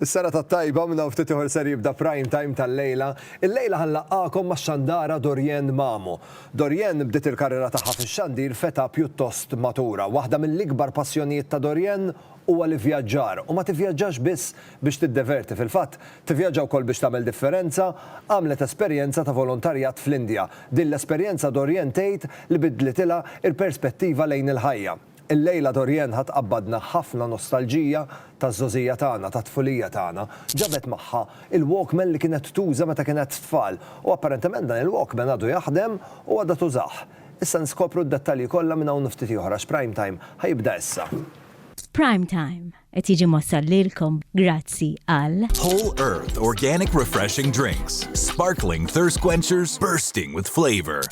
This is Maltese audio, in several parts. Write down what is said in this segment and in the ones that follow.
Is-serata t-tajba minn hawn ftit ieħor ser jibda Prime Time tal-lejla. Illejla ħa nlaqqagħkom max-xandara Dorienne Mamo. Dorienne bdiet il-karriera tagħha fix-xandir f'età pjuttost matura. Waħda mill-ikbar passjonijiet ta' Dorienne huwa l-ivvjaġġar u ma tivvjaġġax biss biex tiddeverti, fil-fatt, tivvjaġġa wkoll biex tagħmel differenza. Għamlet esperjenza ta' volontarjat fl-Indja. Din l-esperjenza Dorienne tgħid li biddlitilha l-perspettiva lejn il-ħajja. Il-lejla Dorianne ħa tqabbadna ħafna nostalġija taż-żgħożija tagħna, tat-tfulija tagħna. Ġabet magħha il-Walkman li kienet tuża meta kienet tfal u apparentement dan il-Walkman għadu jaħdem u għadha tużah. Issa niskopru d-dettalji kollha minn hawn u ftit ieħor għax Prime Time ħa jibda issa. Prime Time qed jiġi mwassal lilkom grazzi għal. Whole Earth Organic Refreshing Drinks, Sparkling Thirst Quenchers Bursting with Flavor.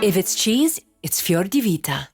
If it's cheese, it's Fior di Vita.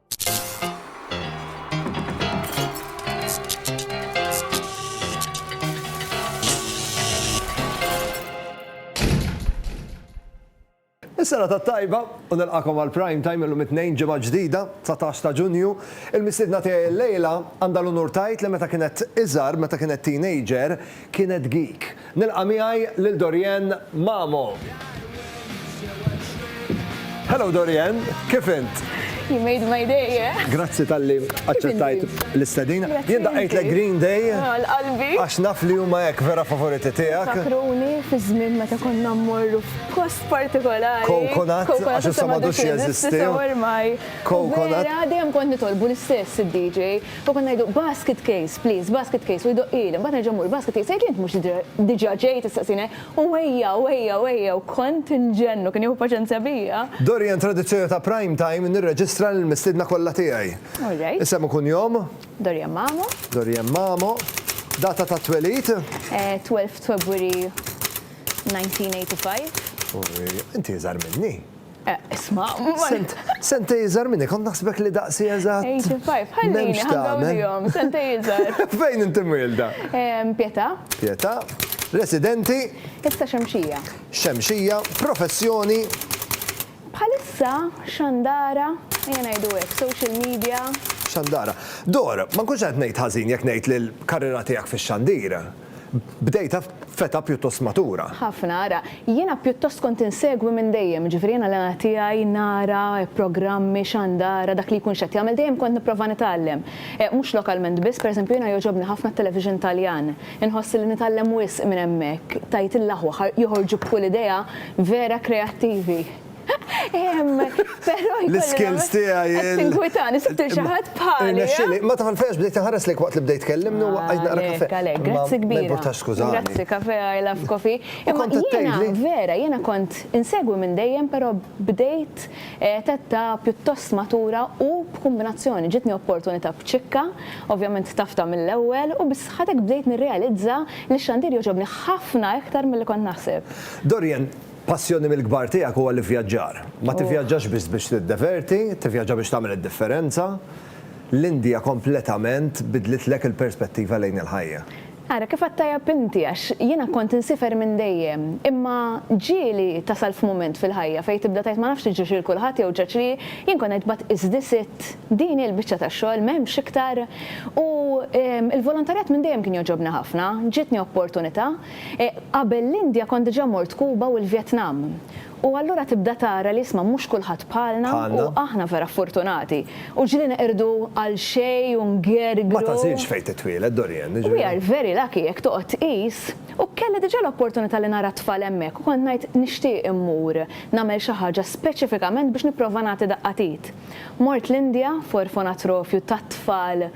Is-sena ta' tajba u nilqakom għal prime time illum it-tnejn ġimgħa ġdida 19 ta' Ġunju. Il-mistiedna tiegħi llejla għandha l-unur tgħid li meta kienet iżgħar, meta kienet teenager, Kienet geek. Nilqa' miegħi lil Dorianne Mamo. Hello Dorianne, kif int? You made my day, yeah? Grazzi tal-li aċċettajt l-istedina. Jien daqqajt le Green Day. Għal-qalbi. Ah, Għax naf li huma hekk vera favoriti tiegħek. Fakruni fi żmien meta konna mmorru f'post partikolari. Coconut, għax issa m'għadux jeżisti. Coconut. Vera dejjem kont nitolbu l-istess id-DJ. U konna ngħidu, Basket case, please, basket case, u jdoqqili, mbagħad nerġa' mmur, Basket case, jgħidli, Int mhux diġà ġej tistaqsini hekk? U ejja, u ejja, u ejja, u kont inġenn u kien jieħu paċenzja bija. Dorian, Tradizzjoni ta' Prime Time nirreġistra lill-mistiedna kollha tiegħi. All right. Isem u kunjom? Dorian Mamo. Dorian Mamo. Data tat-twelid? 12 February 1985. Inti iżgħar minni. Isma'. Sent, sentej iżgħar minni, kont naħsbek li daqsi eżatt. 85, ħallini, ħaddawlihom, sentej iżgħar. Fejn inti mwilda? Pieta. Pieta, residenti? Issa Xemxija. Xemxija, professjoni? Bħalissa xandara, ejja ngħidu hekk, social media. Xandara. Dora, ma nkunx qed ngħid ħażin jekk ngħid li l-karriera tiegħek fix-xandir. bdejtha f'età pjuttost matura. Ħafna, ara, jiena pjuttost kont insegwi minn dejjem, jiġifieri jiena l-għana tiegħi nara programmi, xandara, dak li jkun x'qed jagħmel dejjem kont nipprova nitgħallem. Mhux lokalment biss, pereżempju jiena jogħġobni ħafna t-television Taljan, inħoss li nitgħallem wisq minn hemmhekk, tgħid il-aħwa joħorġu b'kull idea vera kreattivi. L-skills tiegħi. Tinkwitan, isibtil xi ħadd bħali. Nexxili, ma tħanfex bdejt inħares lejk waqt li bdejt tkellimni u waqajt naqra kafe. Għalek, grazzi kbira. Ma importax skużani. Grazzi kafe, I love coffee. Imma jiena vera, jiena kont insegwi minn dejjem però bdejt tetta pjuttost matura u b'kumbinazzjoni. Ġitni opportunità b'ċikka, ovvjament tafta mill-ewwel u bis-sħatek bdejt nirrealizza li x-xandir jogħġobni ħafna iktar milli kont naħseb. Dorian, Passjoni mill-kbar tiegħek huwa l-ivvjaġġar. Ma tivvjaġġax biss biex tiddeverti, tivvjaġġa biex tagħmel id-differenza. L-Indja kompletament bidlitlek il-perspettiva lejn il-ħajja. Ara kif għedt tajjeb inti għax jiena kont insifer minn dejjem, imma ġieli tasal f'mument fil-ħajja fejn tibda tgħid ma nafx li ġiex lil kulħadd jew ġrax li, jien kont ngħid but is this it? Din hi l-biċċa tax-xogħol, m'hemmx iktar? U l-volontarjat minn dejjem kien jogħġobni ħafna, ġietni opportunità. Qabel l-Indja kont diġà mort Kuba u l-Vjetnam. U allura tibda tara li isma' mhux kulħadd bħalna u aħna vera ffortunati. U ġieli neqirdu għal xejn u ngergru. Ma tagħżilx fejn titwieled, Dorian, jiġifieri. We are very lucky jekk toqgħod tqis. U kelli diġà l-opportunità li nara t-tfal hemmhekk u kont ngħid nixtieq immur nagħmel xi ħaġa speċifikament biex nipprova nagħti daqqa t'id. Mort l-Indja f'orfonatrofju tat-tfal.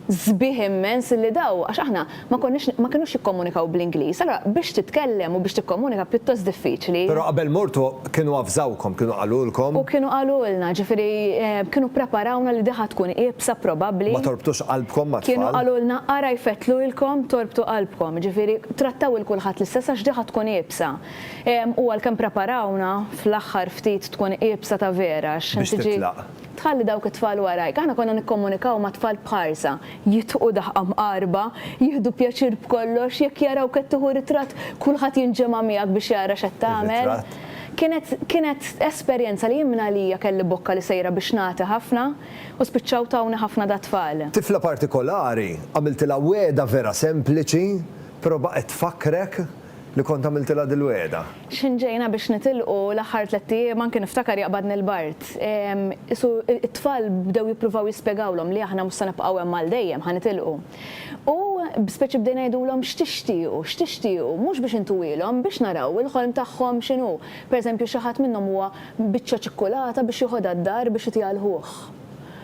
sbieħ immens li daw, għax aħna ma konniex, ma kinux jikkomunikaw bl-Ingliż, allura biex titkellem u biex tikkomunika pjuttost diffiċli. Però qabel mortu kienu avżawkom, kienu qalulkom? U kienu qalulna, ġifieri kienu ppreparawna li di ħa tkun iebsa probabbli. Ma torbtux qalbkom mat-tfal? Kienu qalulna ara jfettlulkom torbtu qalbkom, ġifieri trattaw il kulħadd l-istess għax di ħa tkun iebsa. U għalkemm ppreparawna, fl-aħħar ftit tkun iebsa ta' vera għax tiġi. Biex titlaq. Tħalli dawk it-tfal warajk. Aħna konna nikkomunikaw ma' tfal b'ħarsa, jitqu daħqa mqarba, jieħdu pjaċir b'kollox, jekk jarawk qed tieħu ritratt, kulħadd jinġema' miegħek biex jara x'qed tagħmel. Kienet kienet esperjenza li jien minn għalija kelli bokka li sejra biex nagħti ħafna u spiċċaw tawni ħafna dat-tfal. Tifla partikolari, għamiltilha wegħda vera sempliċi, prova qed tfakkrek li kont għamiltilha dil-wegħda. X'ħin ġejna biex nitilqu, l-aħħar tlett ijiem anke niftakar jaqbadni l-bard. Qisu t-tfal bdew jippruvaw jispjegawlhom li aħna mhux se nibqgħu hemm għal dejjem, ħa nitilqu. U b'speċi bdejna ngħidulhom x'tixtiequ, x'tixtiequ, mhux biex intuwilhom, biex naraw il-ħolm tagħhom x'inhu. Pereżempju xi ħadd minnhom huwa biċċa ċikkulata biex jiħodha d-dar biex itiha 'l ħuh.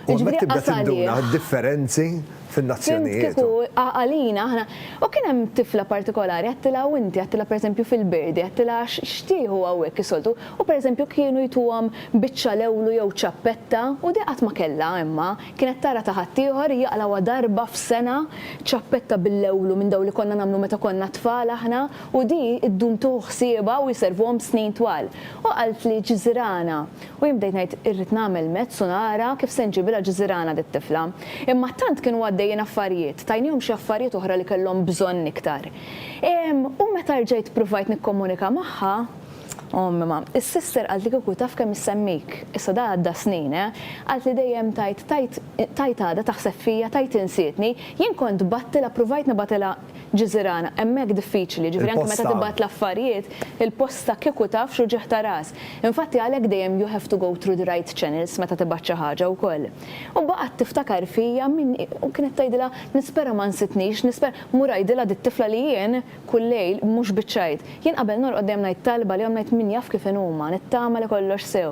U hemmhekk tibda tinduna d-differenzi fin-nazzjonijiet. Fimt kieku għalina aħna. U kien hemm tifla partikolari għedtilha u inti għedtilha pereżempju fil-Birdi għedtilha x'tieħu hawnhekk is-soltu u pereżempju kienu jtuhom biċċa lewlu jew ċappetta u di qatt ma kellha imma kienet tara ta' ħaddieħor hija qalawha darba f'sena ċappetta bil-lewlu minn dawn li konna nagħmlu meta konna tfal aħna u di ddum tieħu ħsiebha u jservuhom snin twal. U qaltli ġżirana U jien bdejt ngħid irrid nagħmel mezz u nara kif se nġibilha ġżirana dit-tifla. Imma tant kienu għaddejjin affarijiet, tajnihom xi affarijiet oħra li kellhom bżonn iktar. Ehm, u meta rġajt ppruvajt nikkomunika magħha, Ommi ma, is-sister qalt li kieku taf kemm issemmik. Issa da għadda snin, eh. Qalt li dejjem tgħid tgħid tgħid għadha taħseb fija, tgħid insietni. Jien kont bgħattilha ppruvajt nibgħatilha. Ġiżirana, hemmhekk diffiċli, ġifieri anke meta tibgħat l-affarijiet, il-posta kieku taf x'uġigħ ta' ras. Infatti għalhekk dejjem you have to go through the right channels meta tibgħat xi ħaġa wkoll. U baqgħet tiftakar fija min hi u kienet tgħidilha nispera ma nsitnix, nispera, mmur ngħidilha dit-tifla li jien kull lejl, mhux biċ-ċajt, jien qabel norqod dejjem ngħid talba għalihom ngħid min jaf kif inhuma, nittama li kollox sew.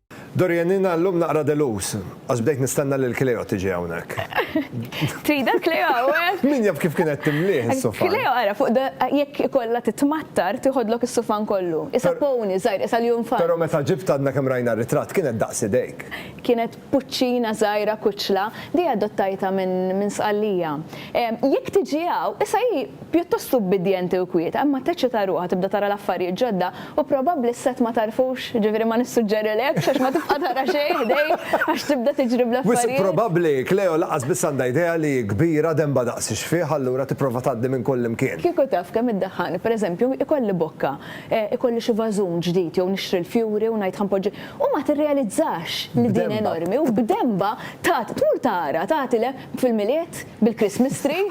Dorian jiena llum naqra delus, għax bdejt nistenna lil Cleo tiġi hawnhekk. Tridha Cleo hawnhekk? Min jaf kif kien qed timlieh is-sufan. Cleo ara fuq jekk ikollha titmattar tiħodlok is-sufan kollu. Qisha pony żgħir, qisha l-junfant. Però meta ġibt għadna kemm rajna r-ritratt kienet daqs idejk. Kienet puċċina żgħira kuċċla, di adottajtha minn Sqallija. Jekk tiġi hawn, qisha hi Pjuttost ubbidjenti u kwieta, imma teċċita ruħha, tibda tara l-affarijiet ġodda, u probabbli s-sett ma tagħrfux, jiġifieri ma nissuġġerilekx għax ma tibqa' tara xejn ħdejk għax tibda tiġri bl-affarijiet. Wisq probabbli, Cleo lanqas biss għandha idea li hi kbira, denba daqs ix-xfigħ, allura tipprova tgħaddi minn kullimkien. Kieku taf kemm iddaħħalni, pereżempju, ikolli bokka, ikolli xi vażun ġdid jew nixtri l-fjuri u ngħid ħa npoġġi, u ma tirrealizzax li din enormi u b'denba tagħti, tmur tara, tagħti le, fil-Milied bil-Christmas tree,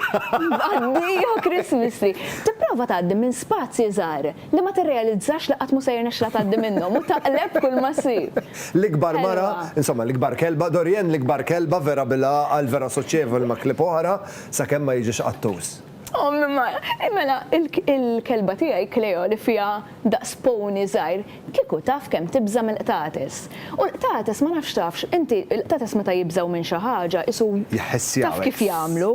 mgħaddija Christmas tree. Tipprova tgħaddi minn spazji żgħar li ma tirrealizzax li qatt mhu se jirnexxilha tgħaddi minnhom u taqleb kull ma ssib. L-ikbar mara, insomma l-ikbar kelba, Dorienne l-ikbar kelba vera bil-għaqal vera soċjevoli ma' klieb oħra, sakemm ma jiġix qattus. Ommi Mara, Ej mela, il-kelba tiegħi Kleo li fiha daqs pony żgħir, kieku taf kemm tibża' mill-qtates. U l-qtates ma nafx tafx, inti, il-qtates meta jibżgħu minn xi ħaġa isu taf kif jagħmlu.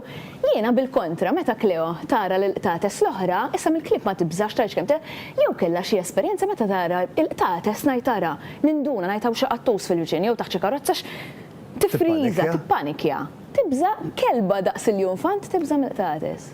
Jiena bil-kontra, meta Kleo tara lill-qtates l-oħra, issa mill-klieb ma tibżax tgħidx kemm jew kellha xi esperjenza meta tara l-qtates ngħid ara, ninduna ngħid hawn xi qattus fil-viċin jew taħt xi karozza x' tifriża, tippanikja. Tibża' kelba daqs il-junfant tibża' mill-qtates.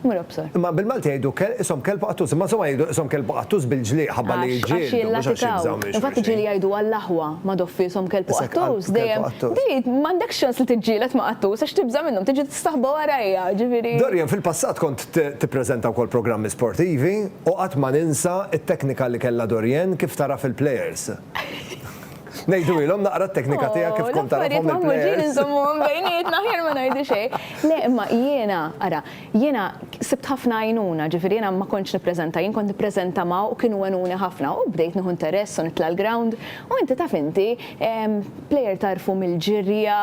Mur obsor. Imma bil-Malti jgħidu kel ishom kelb u qattus, imma insomma jgħidu ishom kelb u qattus bil-ġliq ħabba li jiġġieldu, mhux għax jibżgħu minn xulxin. Għax jillatikaw. Infatti ġieli jgħidu għall-aħwa, ma doffi ishom kelb u qattus, dejjem, di m'għandekx ċans li tiġġieled ma' qattus għax tibża' minnhom, tiġi tistaħba warajja, ġifieri. Dorian, fil-passat kont tippreżenta wkoll programmi sportivi u qatt ma ninsa t-teknika li kellha Dorian kif tagħraf il-players. Ngħidulhom naqra t-teknika tiegħek kif kont tagħrafhom lill-plejers. L-affarijiet magħmuġin inżommuhom bejnietna aħjar ma ngħidu xejn. Le imma jiena, ara, jiena sibt ħafna għajnuna, ġifieri jiena ma kontx nippreżenta jien, kont nippreżenta ma' u kienu għenuni ħafna u bdejt nieħu interess u nitla' l-ground u inti taf inti, plejer tagħrfu mill-ġirja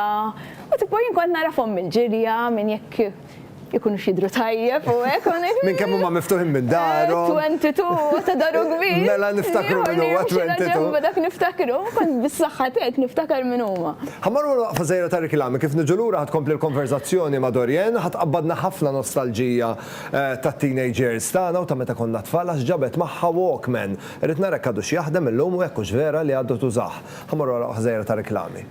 u tipo jien kont nagħrafhom mill-ġirja minn jekk ikunux jidru tajjeb u hekk u hekk. Minn kemm huma miftuħin minn darhom. 22 ta' daru kbir. Mela niftakru minn huwa 22. Dak niftakru, kont bis-saħħa tiegħek niftakar minn huma. Ħammar wara waqfa żgħira ta' riklami, kif niġu lura ħadd tkompli l-konverżazzjoni ma' Dorianne, ħadd tqabbadna ħafna nostalġija tat-teenage years tagħna u ta' meta konna tfal għax ġabet magħha walkman. Irrid nara jekk għadux jaħdem illum u jekk hux vera li għadu tużah. Ħammar wara waqfa żgħira ta' riklami.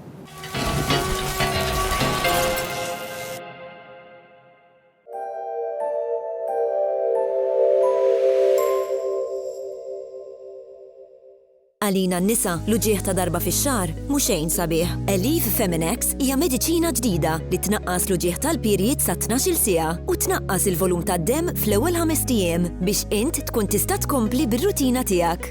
Għalina n-nisa, l-uġigħ ta' darba fix-xahar mhu xejn sabiħ. Elif Feminex hija mediċina ġdida li tnaqqas l-uġigħ tal-pirjied sa 12-il siegħa u tnaqqas il-volum tad-demm fl-ewwel ħamest ijiem biex int tkun tista' tkompli bir-rutina tiegħek.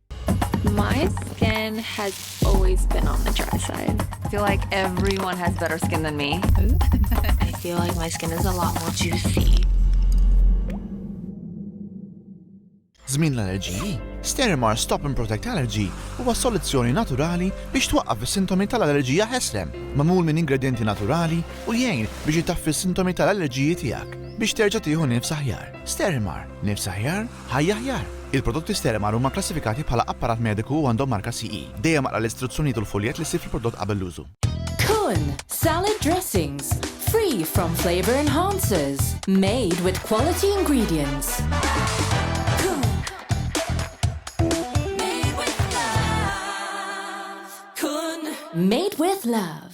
My skin has always been on the dry side. I feel like everyone has better skin than me. I feel like my skin is a lot more juicy. Zmin l-allerġiji, Sterimar Stop and Protect Allergy huwa soluzzjoni naturali biex twaqqaf is-sintomi tal-allerġija ħeslem, mamul minn ingredienti naturali u jgħin biex jitaffi s-sintomi tal-allerġiji tiegħek biex terġa' tieħu nifs aħjar. Sterimar, nifs aħjar Ħajja aħjar! Il-prodotti Sterimer huma kklassifikati bħala apparat mediku u għandhom marka CE. Dejjem aqra l-istruzzjonijiet u l-fuljett li ssib fil-prodott qabel l-użu. Kun, Salad dressings, free from flavour enhancers, made with quality ingredients. Kun, made with love. Kun, made with love.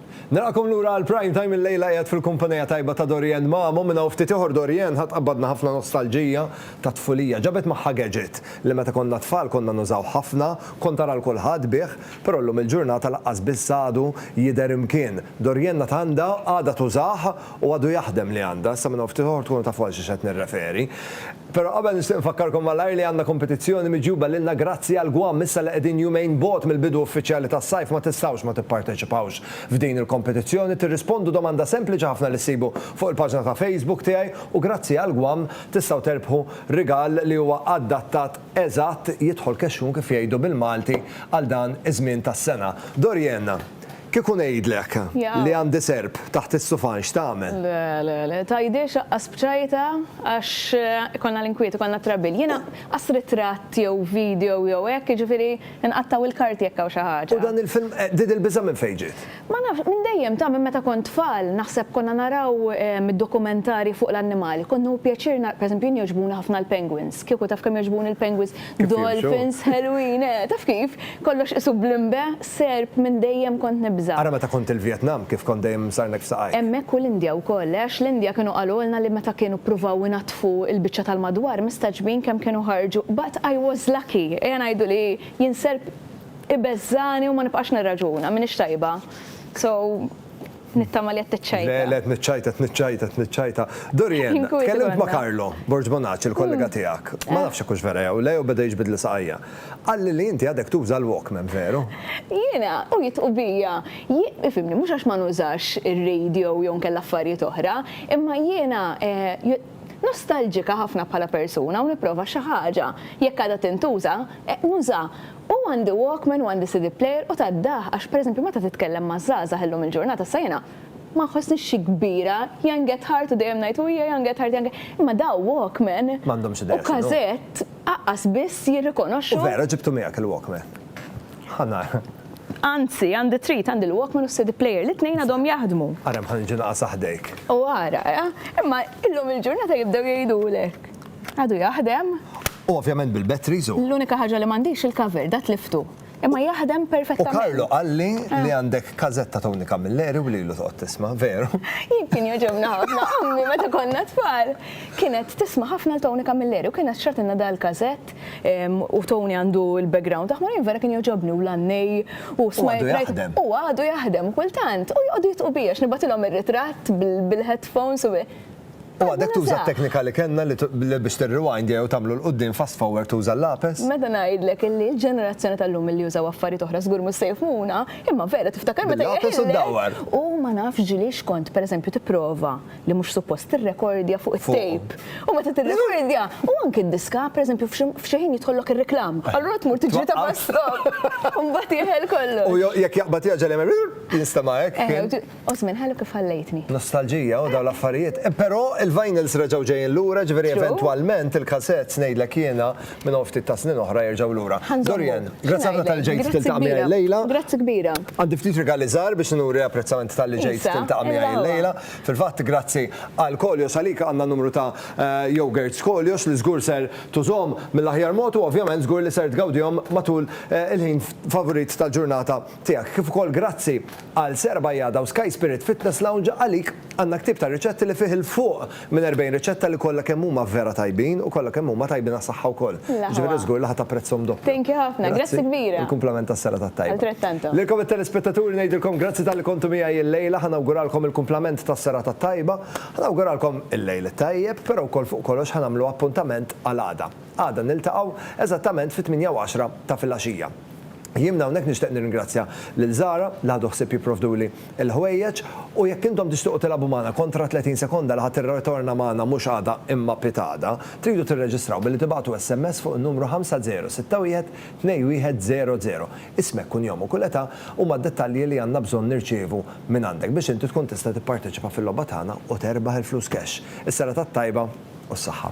Nilqakom lura għal Prime Time illejla qiegħed fil-kumpanija tajba ta' Dorianne Mamo minn hawn ftit ieħor Dorianne ħa tqabbadna ħafna nostalġija ta' tfulija ġabet magħha gadget li meta konna tfal konna nużawh ħafna kont tara 'l kulħadd bih però llum il-ġurnata laqqas biss għadu jidher imkien Dorianne għad għandha għadha tużah u għadu jaħdem li għandha, issa minn hawn ftit ieħor tkunu tafu għal xiex qed nirreferi. Però qabel nixtieq infakkarkom malajr li għandna kompetizzjoni miġjuba lilna grazzi għal Guam, issa li qegħdin jumejn bogħod mill-bidu uffiċjali tas-sajf ma tistgħux ma tipparteċipawx f'din il-kompetizzjoni, tirrispondu domanda sempliċi ħafna li ssibu fuq il-paġna ta' Facebook tiegħi u grazzi għal Guam tistgħu terbħu rigal li huwa adattat eżatt, jidħol kexxun kif jgħidu bil-Malti għal dan iż-żmien tas-sena. Dorienne. Kieku ngħidlek li għandi serp taħt is-sufan x'tagħmel? Le, le, le, tgħidi x'aqqas b'ċajta għax ikollna l-inkwiet, ikollna t-trabbil. Jiena qas ritratt jew video jew hekk, jiġifieri nqattgħu l-karti jekk hawn xi ħaġa. U dan il-film, din il-biża' minn fejn ġiet? Ma nafx, minn dejjem, ta' minn meta kont tfal, naħseb konna naraw id-dokumentarji fuq l-annimali. Kont nieħu pjaċir nara, pereżempju jien jogħġbuni ħafna l-penguins. Kieku taf kemm jogħġbuni l-penguins, dolphins, ħelwin, eh, taf kif? Kollox qisu blimbe, serp minn dejjem kont nibża'. Ara meta kont il-Vjetnam kif kont dejjem imsarnek f'saqajk. Hemmhekk u l-Indja wkoll, għax l-Indja kienu qalulna li meta kienu ppruvaw inaddfu l-biċċa tal-madwar mistagħġbin kemm kienu ħarġu, but I was lucky, ejja ngħidu li jien serp ibeżżagħni u ma nibqax nirraġuna, m'iniex tajba. So. Nittama li qed tiċċajta. Le, le, qed niċċajta, qed niċċajta, qed niċċajta. Dorian, tkellimt ma' Carlo Borg Bonacci, il-kollega tiegħek. Ma nafx hekk hux vera jew le jew beda jiġbidli saqajja. Qalli li inti għadek tuża l-Walkman, veru? Jiena, u jitqu bija. Ifhimni, mhux għax ma nużax ir-radio jew inkella affarijiet oħra, imma jiena nostalġika ħafna bħala persuna u nipprova xi ħaġa, jekk għadha tintuża, nuża. U għandi walkman u għandi CD player u tad-daħ għax pereżempju meta titkellem ma' żgħażagħ illum il-ġurnata sa jiena ma nħossnix xi kbira, young at heart u dejjem ngħid u hija young at heart young at imma daw walkman u każett aqqas biss jirrikonoxxu. U vera ġibtu miegħek il-walkman? Ħa nara. Anzi, għandi trit, għandi l-walkman u s-CD player, li t-tnejn għadhom jaħdmu. Ara mħa niġi naqas aħdejk. U ara, imma illum il-ġurnata jibdew jgħidulek. Għadu jaħdem. U ovvjament bil-batteries u. L-unika ħaġa li m'għandix il-cover, da tliftu. Imma jaħdem perfettament. U Karlo qalli li eh. għandek kazetta Tony Camilleri u lilu toqgħod tisma', veru? Jien kien joġobna ħafna, ommi meta konna tfal. Kienet tisma' ħafna l-Tony Camilleri u kienet xratilna dal-kazett u Tony għandu l-background taħmu jien vera kien joġobni u l-annej u smajt. U għadu jaħdem kultant u joqgħodu jitqu biex nibatilhom ir-ritratt bil-headphones u U għadek tuża t-teknika li kellna li biex tirrewind jew tagħmlu 'l quddiem fast forward tuża l-lapes? Meta ngħidlek illi l-ġenerazzjoni tal-lum illi jużaw affarijiet oħra żgur mhux se jifhmuna, imma vera tiftakar meta jeħilek u ma nafx ġieli x'kont pereżempju tipprova li mhux suppost tirrekordja fuq it-tape. U meta tirrekordja u anke d-diska pereżempju f'xi ħin jidħollok ir-reklam. Allura tmur tiġri ta' fast stop. U mbagħad jeħel kollox. U jekk jaqbad jgħaġġel jagħmel jinstema' hekk. Osmin, ħallu kif ħallejtni. Nostalġija u dawn l-affarijiet. Però il-vinyls reġgħu ġejjin lura, ġifieri eventwalment il-cassettes ngħidlek jiena minn hawn ftit ta' snin oħra jerġgħu lura. Dorian, grazzi ħafna tal-li ġejt tiltaqa' miegħi llejla. Grazzi kbira. Għandi ftit rigali żgħar biex nuri apprezzament tal-li ġejt tiltaqa' miegħi llejla. Fil-fatt grazzi għal Kolyos għalik għandna numru ta' yogurts Kolyos li żgur ser tużhom mill-aħjar mod u ovvjament żgur li ser tgawdihom matul il-ħin favorit tal-ġurnata tiegħek kif ukoll grazzi għal Sera Bajada u Sky Spirit Fitness Lounge għalik għandna ktieb ta' riċetti li fih 'il fuq minn 40 riċetta li kollha kemm huma vera tajbin u kollha kemm huma tajbin għas-saħħa wkoll. Jiġifieri żgur li ħa tapprezzhom doppju. Thank you ħafna, grazzi kbira. Il-kumplament tas-Sera tat-Tajba. Altrettanto. Lilkom it-telespettaturi ngħidilkom grazzi talli kontu miegħi illejla, ħa nawguralkom il-kumplament tas-Sera tat-Tajba, ħa nawguralkom il-lejl it-tajjeb, però wkoll fuq kollox ħa nagħmlu appuntament għal għada. Għada niltaqgħu eżattament fit-tmienja u għaxra ta' filgħaxija. Jien minn hawnhekk nixtieq nirringrazzja lil Zara li ħadu ħsieb jipprovduli l-ħwejjeġ u jekk intom tixtiequ tilagħbu magħna kontra 30 sekonda li ħa tirritorna magħna mhux għada imma pitada, tridu tirreġistraw billi tibagħtu SMS fuq in-numru 5061 2100. Ismek, kunjom u kull età huma d-dettalji li għandna bżonn nirċievu mingħandek biex inti tkun tista' tipparteċipa fil-logħba tagħna u terbaħ il-flus cash. Is-serata t-tajba u s-saħħa.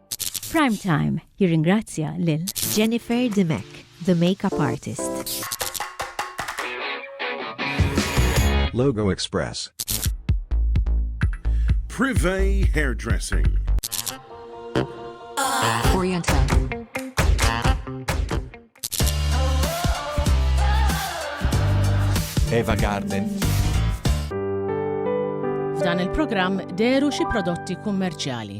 Prime Time jirringrazzja lil Jennifer Dimech, the makeup artist. Logo Express. Privé Hairdressing. Oriental. Eva Garden. F'dan il-programm deru xi prodotti kummerċjali.